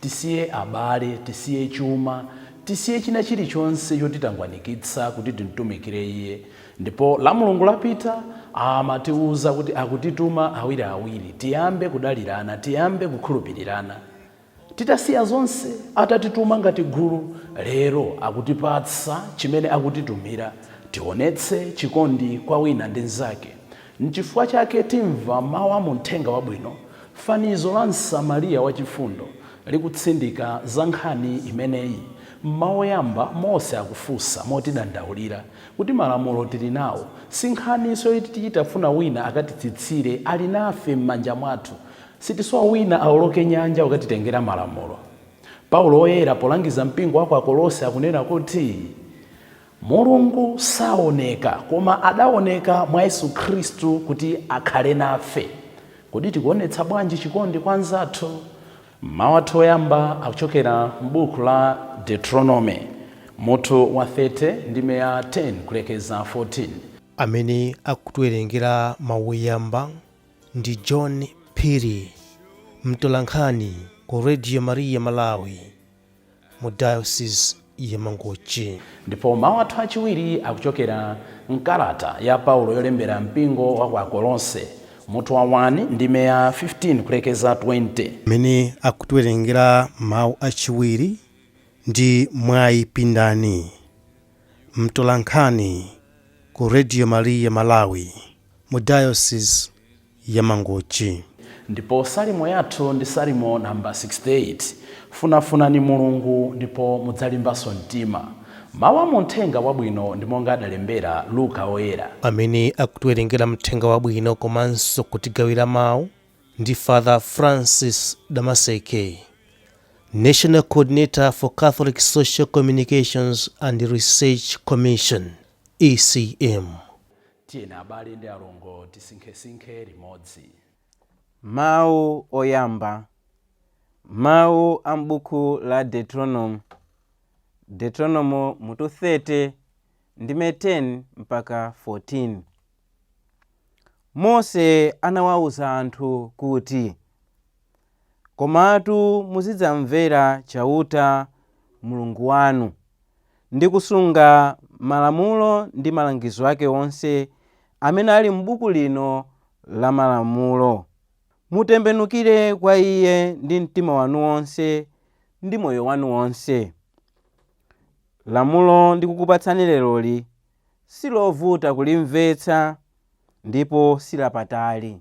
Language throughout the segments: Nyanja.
tisiye abale, tisiye chuma, tisiye china chirichonse chotitangwanikitsa kuti timtumikire Iye. Ndipo la Mulungu lapita, amatiuza kuti akutituma awiri awiri, tiyambe kudalirana, tiyambe kukhulupirirana. Titasiya zonse, atatituma ngati gulu, lero akutipatsa chimene akutitumira, tionetse chikondi kwa wina ndi mzake. N'chifukwa chake timva mawu a mu Mthenga Wabwino, fanizo la Msamariya wachifundo likutsindika za nkhani imeneyi. M'mawu oyamba, Mose akufunsa motidandaulira kuti malamulo tili nawo, si nkhaninso yoti tichita kufuna wina akatitsitsire, ali nafe m'manja mwathu. Sitisowa wina aoloke nyanja kukatitengera malamulo. Paulo Woyera polangiza mpingo wa ku Akolose akunena kuti. Mulungu saoneka, koma adaoneka mwa Yesu Khristu kuti akhale nafe. Kodi tikuonetsa bwanji chikondi kwa anzathu? Mawu athu oyamba akuchokera m'buku la Deuteronome, mutu wa 30, ndime ya 10 kulekeza 14. Amene akutiwerengera mawu oyamba ndi John Phiri, mtolankhani ku Radio Maria Malawi. mu Diocese ya Mangochi. Ndipo mawu athu achiwiri akuchokera m'kalata ya Paulo yolembera mpingo wa ku Akolose, mutu wa 1, ndime ya 15 kulekeza 20. Amene akutiwerengera mawu achiwiri ndi Mwayi Pindani, mtolankhani ku Radio Maria Malawi mu Diocese ya Mangochi. Ndipo salimo yathu ndi Salimo number 68. Funafunani Mulungu ndipo mudzalimbanso mtima. Mawu a mu Mthenga Wabwino ndi monga adalembera Luka Woyera. Amene akutiwerengera Mthenga Wabwino komanso kutigawira mawu ndi Father Francis Damaseke, National Coordinator for Catholic Social Communications and Research Commission, ECM. Tiyeni abale ndi alongo tisinkhesinkhe limodzi. Mawu oyamba, mawu a m'buku la Deuteronomo, Deuteronomo mutu 30 ndime 10 mpaka 14. Mose anawawuza anthu kuti, Komatu muzidzamvera Chauta, Mulungu wanu, ndi kusunga malamulo ndi malangizo ake onse amene ali m'buku lino la malamulo. Mutembenukire kwa Iye ndi mtima wanu wonse ndi moyo wanu wonse. Lamulo ndikukupatsani leroli si lovuta kulimvetsa ndipo si lapatali.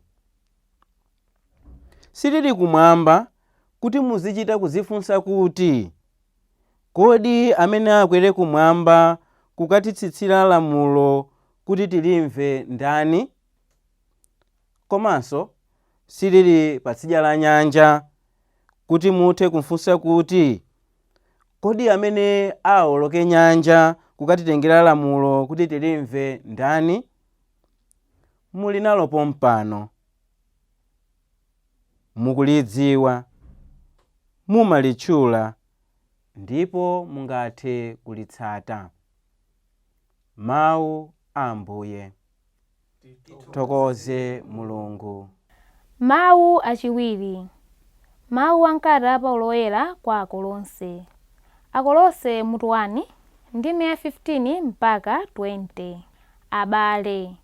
silili kumwamba kuti muzichita kuzifunsa kuti, Kodi amene akwere kumwamba kukatitsitsira lamulo kuti tilimve ndani? Komanso silili patsidya la nyanja kuti muthe kufunsa kuti, Kodi amene awoloke nyanja kukatitengera lamulo kuti tilimve ndani? Muli nalo pompano. mukulidziwa, mumalitchula ndipo mungathe kulitsata. Mawu a Ambuye. Tithokoze Mulungu. Mawu achiwiri, mawu a mkalata ya Paulo Woyera kwa Akolose. Akolose mutu 1, ndime ya 15 mpaka 20. Abale,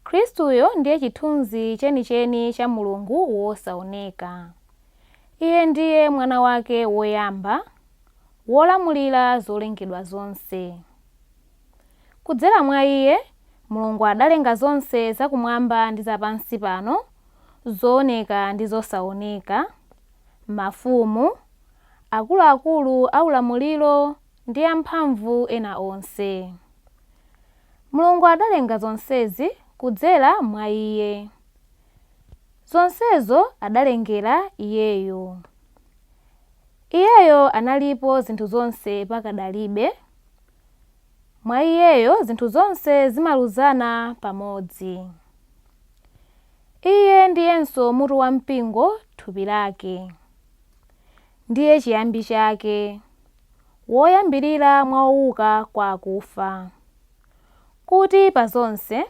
Khristuyo ndiye chithunzi chenicheni cha Mulungu wosaoneka. Iye ndiye Mwana wake woyamba, wolamulira zolengedwa zonse. Kudzera mwa iye, Mulungu adalenga zonse zakumwamba ndi zapansi pano, zooneka ndi zosaoneka, mafumu, akuluakulu aulamuliro ndi amphamvu ena onse. Mulungu adalenga zonsezi kudzera mwa Iye. Zonsezo adalengera Iyeyo. Iyeyo analipo zinthu zonse pakadalibe, mwa Iyeyo zinthu zonse zimaluzana pamodzi. Iye ndiyenso mutu wa mpingo, thupi lake. Ndiye chiyambi chake. woyambirira mwa owuka kwa akufa, kuti pa zonse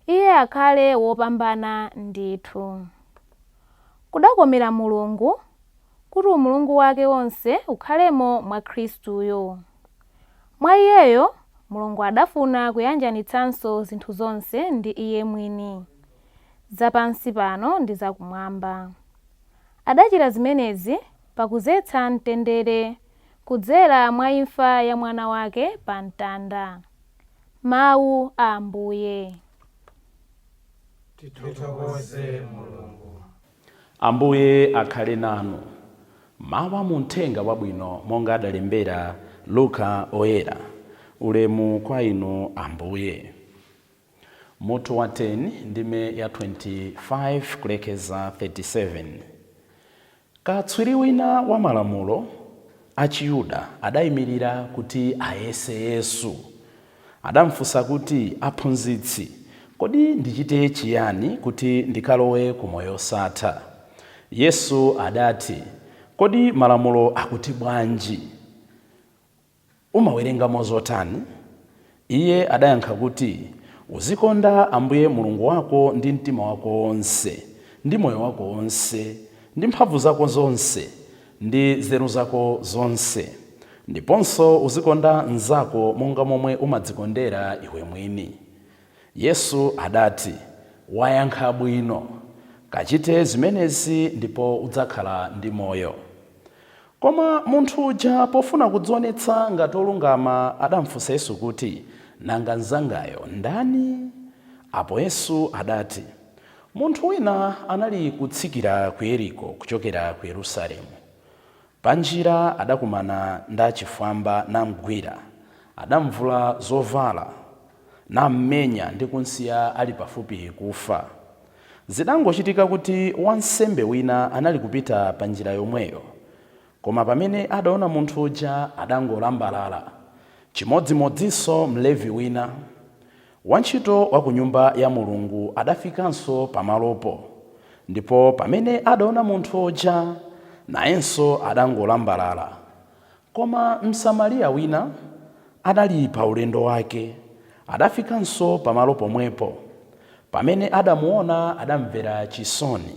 Iye akhale wopambana ndithu. Kudakomera Mulungu kuti umulungu wake wonse ukhalemo mwa Khristuyo. Mwa Iyeyo Mulungu adafuna kuyanjanitsanso zinthu zonse ndi Iye mwini, za pansi pano ndi za Kumwamba. Adachita zimenezi pakudzetsa mtendere kudzera mwa imfa ya mwana wake pa mtanda. Mawu a Ambuye. Tithokoze Mulungu. Ambuye akhale nanu. Mawu a mu Mthenga Wabwino monga adalembera Luka Oyera. Ulemu kwa Inu Ambuye. Mutu wa 10, ndime ya 25 kulekeza 37, Katswiri wina wa malamulo achiyuda adaimirira kuti ayese Yesu. Adamfunsa kuti, Aphunzitsi, kodi ndichite chiyani kuti ndikalowe ku moyo wosatha? Yesu adati, Kodi malamulo akuti bwanji? Umawerengamo zotani? Iye adayankha kuti, Uzikonda Ambuye Mulungu wako ndi mtima wako wonse, ndi moyo wako wonse, ndi mphamvu zako zonse, ndi nzeru zako zonse, ndiponso uzikonda mnzako monga momwe umadzikondera iwe mwini. Yesu adati, Wayankha bwino. Kachite zimenezi ndipo udzakhala ndi moyo. Koma munthu uja pofuna kudzionetsa ngati olungama adamfunsa Yesu kuti, Nanga mnzangayo ndani? Apo Yesu adati, Munthu wina anali kutsikira ku Yeriko kuchokera ku Yerusalemu. Pa njira adakumana ndi achifwamba namgwira. Adamvula zovala, nammenya ndi kumsiya ali pafupi kufa. Zidangochitika kuti wansembe wina anali kupita pa njira yomweyo, koma pamene adaona munthu uja, adangolambalala. Chimodzimodzinso Mlevi wina, wantchito wa ku Nyumba ya Mulungu, adafikanso pamalopo, ndipo pamene adaona munthu uja, nayenso adangolambalala. Koma Msamariya wina adali pa ulendo wake, adafikanso pamalo pomwepo. Pamene adamuwona, adamvera chisoni.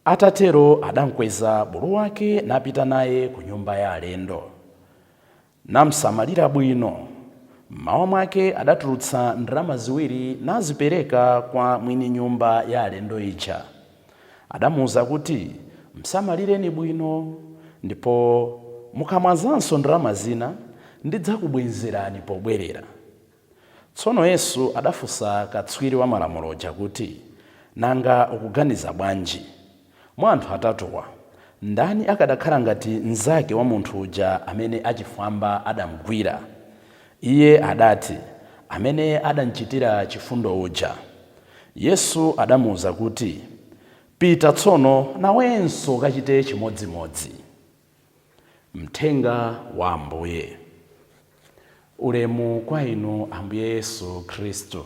Atatero adamkweza bulu wake napita naye ku nyumba ya alendo, namsamalira bwino. M'mawa mwake adatulutsa ndalama ziwiri nazipereka kwa mwini nyumba ya alendo ija. Adamuuza kuti, Msamalireni bwino, ndipo mukamwazanso ndalama zina, ndidzakubwenzerani pobwerera. Tsono Yesu adafunsa katswiri wa Malamulo uja kuti, Nanga ukuganiza bwanji? Mwa anthu atatuwa, ndani akadakhala ngati mnzake wa munthu uja amene achifwamba adamgwira? Iye adati, Amene adamchitira chifundo uja. Yesu adamuuza kuti, Pita tsono, nawenso ukachite chimodzimodzi. Mthenga wa Ambuye. Ulemu kwa Inu Ambuye Yesu Khristu.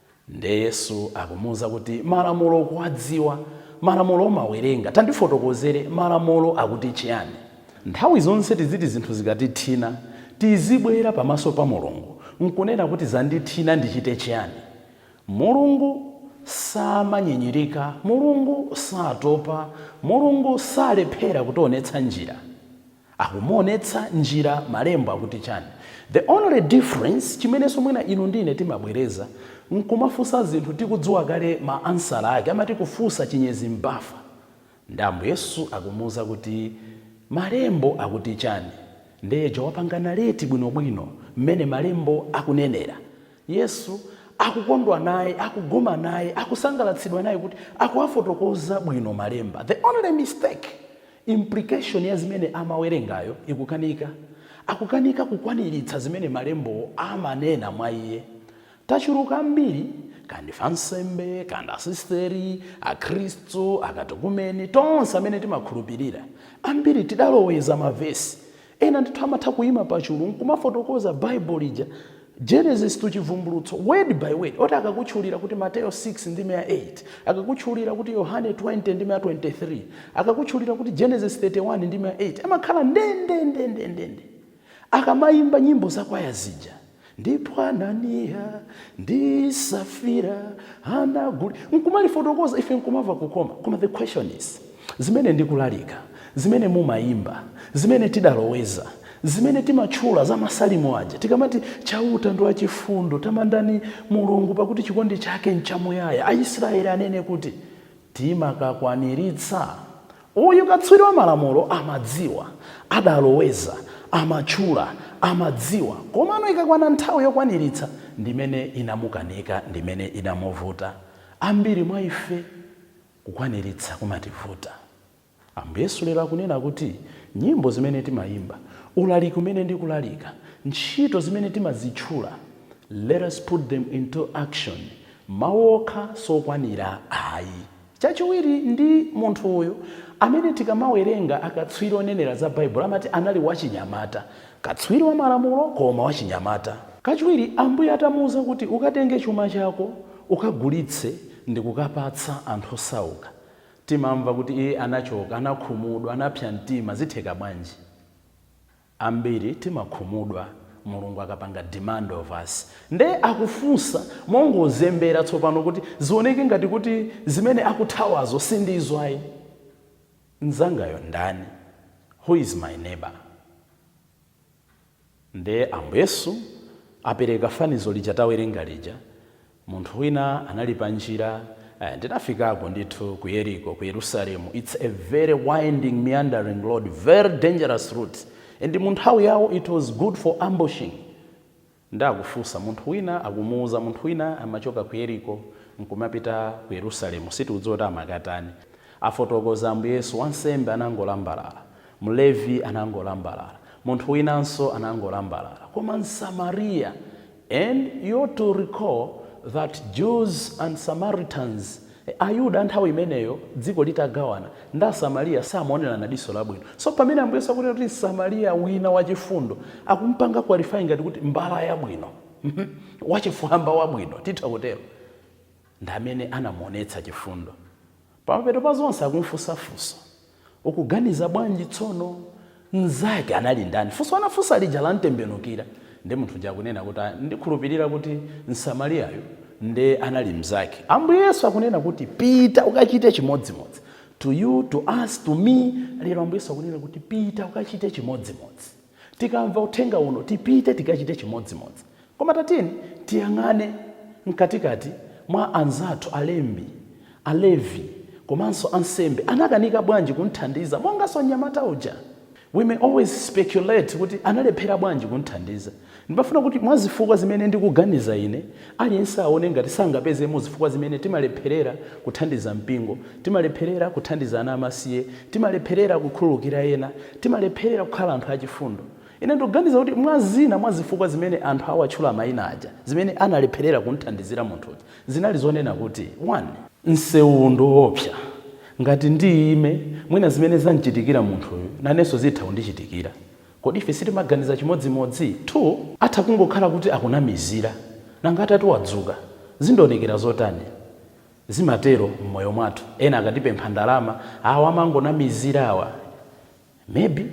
Nde Yesu akumuuza kuti malamulo ukuwadziwa? Malamulo umawerenga. Tandifotokozere, malamulo akuti chiyani? Nthawi zonse tiziti zinthu zikatithina tizibwera pamaso pa Mulungu n'kunena kuti zandithina ndichite chiyani? Mulungu samanyinyirika, Mulungu satopa, Mulungu salephera kutionetsa njira. Akumuonetsa njira malembo akuti chani? The only difference chimenenso mwina inu ndi ine timabwereza nkumafunsa zinthu tikudziwa kale ma answer ake amati kufunsa chinyezi m'bafa. Nde Ambuye Yesu akumuuza kuti malembo akuti chani? Nde uja wapanga narrate bwinobwino mmene malembo akunenera. Yesu akukondwa naye, akugoma naye, akusangalatsidwa naye kuti akuwafotokoza bwino malemba. The only mistake Implication ya zimene amawerengayo ikukanika. Akukanika kukwaniritsa zimene malembo amanena mwa iye. Tachuluka ambiri, kaya ndife ansembe, kaya ndi asisteri, akhristu, akatekumeni, tonse amene timakhulupirira, ambiri tidaloweza mavesi Ena ndithu amatha kuyima pachulu nkumafotokoza Bible lija Genesis to Chivumbulutso word by word oti akakutchulira kuti Mateyo 6 ndime ya 8 akakutchulira kuti Yohane 20 ndime ya 23 akakutchulira kuti Genesis 31 ndime ya 8 amakhala ndendendendendende akamayimba nyimbo za kwaya zija Ndipo Ananiya ndi Safira anaguli. Nkumalifotokoza ife nkumava kukoma. Koma the question is, zimene ndikulalika, zimene mumayimba, zimene tidaloweza, zimene timatchula za Masalimo aja, tikamati, Chauta ndi wachifundo, tamandani Mulungu pakuti chikondi chake nchamuyaya, Aisraele anene kuti. timakakwaniritsa? Uyu katswiri wa malamulo amadziwa, adaloweza, amatchula, amadziwa, komano ikakwana nthawi yokwaniritsa ndimene inamukanika, ndimene inamuvuta. Ambiri mwa ife kukwaniritsa kumativuta. Ambuye Yesu lero akunena kuti nyimbo zimene timayimba, ulaliki umene ndikulalika, ntchito zimene timazitchula, let us put them into action, mawu okha sokwanira ayi. Chachiwiri ndi munthu uyu amene tikamawerenga akatswiri onenera za Baibulo amati anali wachinyamata, katswiri wa malamulo koma wachinyamata. Kachiwiri Ambuye atamuuza kuti ukatenge chuma chako ukagulitse ndikukapatsa anthu osauka, Timamva kuti iye anachoka, anakhumudwa, anapsa mtima. Zitheka bwanji? Ambiri timakhumudwa Mulungu akapanga demand of us. Nde akufunsa mongozembera tsopano kuti zioneke ngati kuti zimene akuthawazo sindizo ayi. Nzangayo ndani? Who is my neighbor? Nde Ambuye Yesu apereka fanizo lija tawerenga lija, Munthu wina anali panjira, eh, ndinafikako ndithu ku Yeriko, ku Yerusalemu, it's a very winding, meandering road, very dangerous route, and mu nthawi yawo it was good for ambushing. Nde akufunsa, munthu wina akumuuza, munthu wina amachoka ku Yeriko nkumapita ku Yerusalemu, sitikudziwa kuti amakatani. Afotokoza Ambuye Yesu, wansembe anangolambalala, Mlevi anangolambalala. Munthu winanso anangolambalala. Koma Msamariya and you ought to recall that Jews and Samaritans Ayuda a nthawi imeneyo dziko litagawana ndi Asamariya samaonerana ndi diso labwino. So pamene Ambuye Yesu akunena kuti Msamariya wina wachifundo, akumupanga qualify ngati kuti mbala yabwino, wachifwamba wabwino, titha kutero. Ndi amene anamuonetsa chifundo. Pamapeto pa zonse akumufunsa funso. Ukuganiza bwanji tsono? Mnzake anali ndani? Funso anafunsa lija lamtembenukira. Ndiye munthu uja akunena kuti, ah, ndikhulupirira kuti Msamariyayu ndiye anali mnzake. Ambuye Yesu akunena kuti, pita ukachite chimodzimodzi. To you, to us, to me, lero Ambuye Yesu akunena kuti, pita ukachite chimodzimodzi. Tikamva uthenga uno, tipite tikachite chimodzimodzi. Koma tatiyeni tiyang'ane m'katikati mwa anzathu, alembi, Alevi, komanso ansembe anakanika bwanji kumthandiza monganso mnyamata uja? We may always speculate kuti analephera bwanji kumthandiza. Ndimafuna kuti mwa zifukwa zimene ndikuganiza ine, aliyense aone ngati sangapezemo zifukwa zimene timalepherera kuthandiza mpingo, timalepherera kuthandiza ana amasiye, timalepherera kukhululukira ena, Timalepherera kukhala anthu achifundo. Ine ndikuganiza kuti mwa zina mwa zifukwa zimene anthu awatchula maina aja, zimene analepherera kumthandizira munthu uja, zinali zonena kuti, 1. Msewuwu ndi woopsa. Ngati ndiime, mwina zimene zamchitikira munthuyu nanenso zitha kundichitikira. Kodi ife sitimaganiza chimodzimodzi? 2. Atha kungokhala kuti akunamizira. Nanga atati wadzuka, zindionekera zotani? Zimatero mmoyo mwathu ena akatipempha ndalama awa amangonamizira awa maybe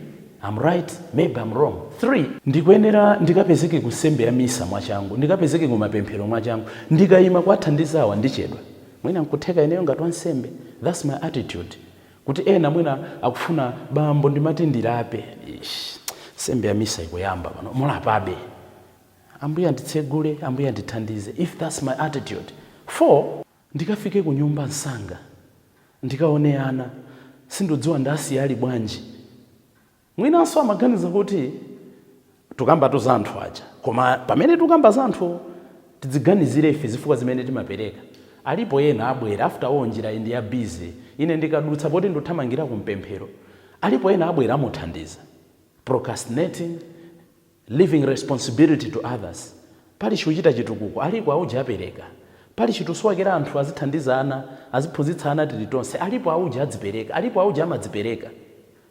I'm right maybe I'm wrong 3. Ndikuyenera ndikapezeke ku nsembe ya misa mwachangu, ndikapezeke ku mapemphero mwachangu, ndikaima kuwathandiza awa ndichedwa mwina nkutheka ineyo ngati wansembe that's my attitude kuti ena mwina akufuna bambo ndimati ndilape eish nsembe ya misa ikuyamba pano mulapabe Ambuye anditsegule, Ambuye andithandize if that's my attitude 4. Ndikafike kunyumba msanga ndikaone ana sindudziwa ndasiya ali bwanji mwinanso amaganiza kuti tukambatu za anthu aja koma pamene tukamba za anthuwo tidziganizire ife zifukwa zimene timapereka alipo ena abwera after all njirayi ndi ya busy ine ndikadutsa poti nduthamangira ku mapemphero alipo ena abwera amuthandiza procrastinating leaving responsibility to others Pali chikuchitika chitukuko alipo auje apereka pali chitsulo akera anthu azithandizana aziphunzitsana tiri tonse alipo auje adzipereka alipo auje amadzipereka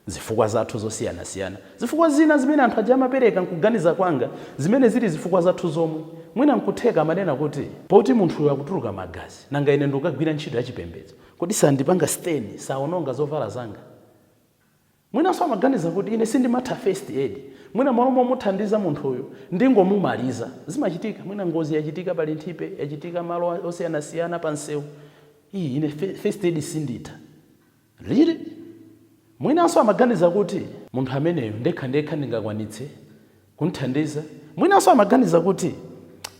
zifukwa zathu zosiyanasiyana zifukwa zina zimene anthu aja amapereka nkuganiza kwanga zimene ziri zifukwa zathu zomwe mwina nkutheka amanena kuti poti munthuyu akuturuka magazi nanga ine ndikukagwira ntchito yachipembedzo kodi sandipaka stain saononga zovala zanga? Mwinanso amaganiza kuti, Ine sindimatha first aid. Mwina m'malo momuthandiza munthuyu, ndingomumaliza. Zimachitika. Mwina ngozi yachitika pa Linthipe, yachitika malo osiyanasiyana pamsewu. Iii ine first aid sinditha. Really? Mwinanso amaganiza kuti. Munthu ameneyo ndekhandekha ndingakwanitse? kumthandiza. Mwinanso amaganiza kuti,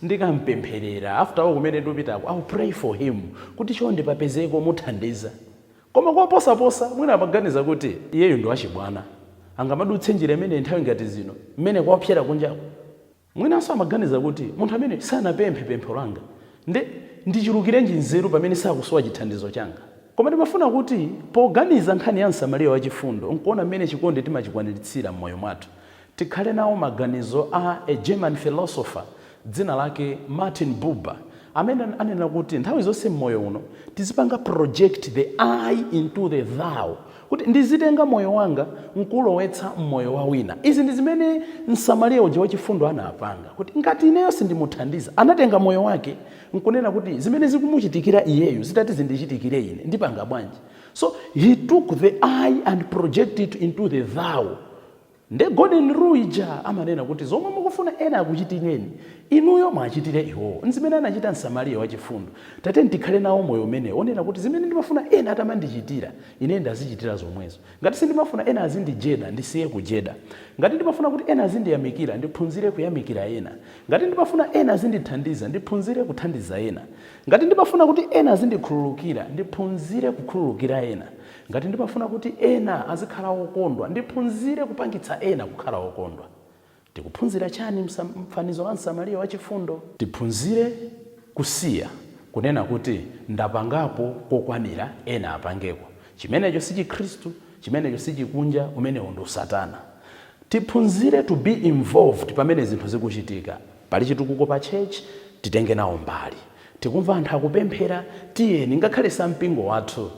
Ndikam'pempherera, after all kumene ndikupitako, I'll pray for him, kuti chonde papezeke omuthandiza. Koma koposaposa, mwina amaganiza kuti, Iyeyu ndi wachibwana. Angamadutse njira imeneyi nthawi ngati zino, mmene kwaopsera kunjaku? Mwinanso amaganiza kuti, Munthu ameneyu sanapemphe pempho langa, nde ndichulukirenji nzeru pamene sakusowa chithandizo changa? Koma ndimafuna kuti, poganiza nkhani ya Msamariya Wachifundo n'kuona mmene chikondi timachikwaniritsira m'moyo mwathu, Tikhale nawo maganizo a a German philosopher dzina lake Martin Buber amene ananena kuti nthawi zonse mmoyo uno tizipanga project the I into the thou kuti ndizitenga moyo wanga nkuulowetsa mmoyo wa wina. Izi ndi zimene msamariya uja wachifundo anapanga kuti ngati ineyo sindimuthandiza anatenga moyo wake nkunena kuti zimene zikumuchitikira iyeyu zitati zindichitikire ine ndipanga bwanji so he took the I and projected it into the thou. Nde golden rule ija amanena kuti zomwe mukufuna ena akuchitireni, inuyo mwachitire iwowo. N'zimene anachita Msamariya wachifundo. Tatiyeni tikhale nawo moyo umenewo, wonena kuti zimene ndimafuna ena atamandichitira, ineyo ndazichitira zomwezo. Ngati sindimafuna ena azindijeda, ndisiye kujeda. Ngati ndimafuna kuti ena azindiyamikira, ndiphunzire kuyamikira ena. Ngati ndimafuna ena azindithandiza, ndiphunzire kuthandiza ena. Ngati ndimafuna kuti ena azindikhululukira, ndiphunzire kukhululukira ena. Ngati ndimafuna kuti ena azikhala okondwa, ndiphunzire kupangitsa ena kukhala okondwa. Tikuphunzira chani m'fanizo la Msamariya wachifundo? Tiphunzire kusiya kunena kuti, Ndapangapo kokwanira, ena apangeko. Chimenecho si Chikhristu, chimenecho si chikunja, umenewo ndi Satana. Tiphunzire to be involved pamene zinthu zikuchitika. Pali chitukuko pa church, titenge nawo mbali. Tikumva anthu akupemphera, tiyeni, ngakhale si a mpingo wathu,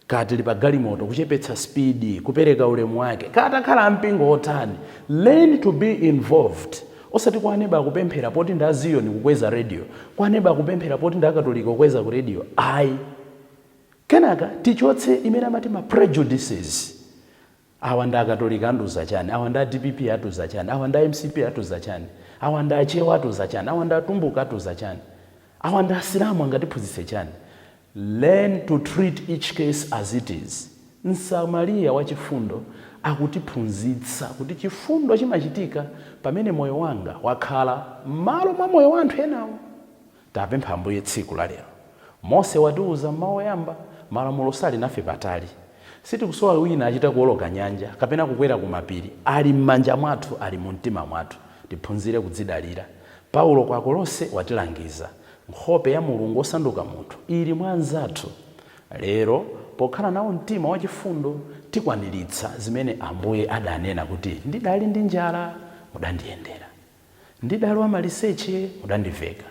kaya tili pa galimoto, kuchepetsa speed, kupereka ulemu wake, kaya atakhala a mpingo otani, learn to be involved, osati kwa aneba akupemphera poti ndi a Ziyoni kukweza radio, kwa aneba akupemphera poti ndi a Katolika kukweza ku radio, ayi. Kenaka tichotse imene amati ma prejudices, Awa ndi akatolika andiuza chani, awa ndi a dpp atiuza chani, awa ndi a mcp atiuza chani, awa ndi achewa atiuza chani, awa ndi atumbuka atiuza chani, awa ndi asilamu angatiphunzitse chani? Learn to treat each case as it is. Msamaliya wa chifundo akutiphunzitsa kuti chifundo chimachitika pamene moyo wanga wakhala mmalo mwa moyo wa anthu enawo. Tapempha Ambuye tsiku la lero. Mose watiuza m'mawu oyamba, malamulo sali nafe patali. Sitikusowa wina achita kuwoloka nyanja, kapena kukwera ku mapiri, ali m'manja mwathu, ali mu mtima mwathu. Tiphunzire kudzidalira. Paulo ku Akolose watilangiza, nkhope ya Mulungu osanduka munthu ili mwa anzathu. Lero, pokhala nawo mtima wa chifundo, tikwaniritsa zimene Ambuye adanena kuti, ndidali ndi njala, mudandiyendera. Ndidali wa maliseche mudandiveka.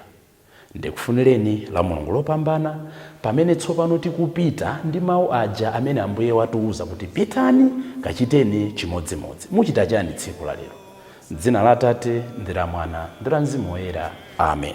Ndikufunireni la Mulungu lopambana pamene tsopano tikupita ndi mau aja amene Ambuye watiuza kuti pitani kachiteni chimodzimodzi. Muchita chani tsiku la lero? M'dzina la Atate ndi la Mwana ndi la Mzimu Woyera. Amen.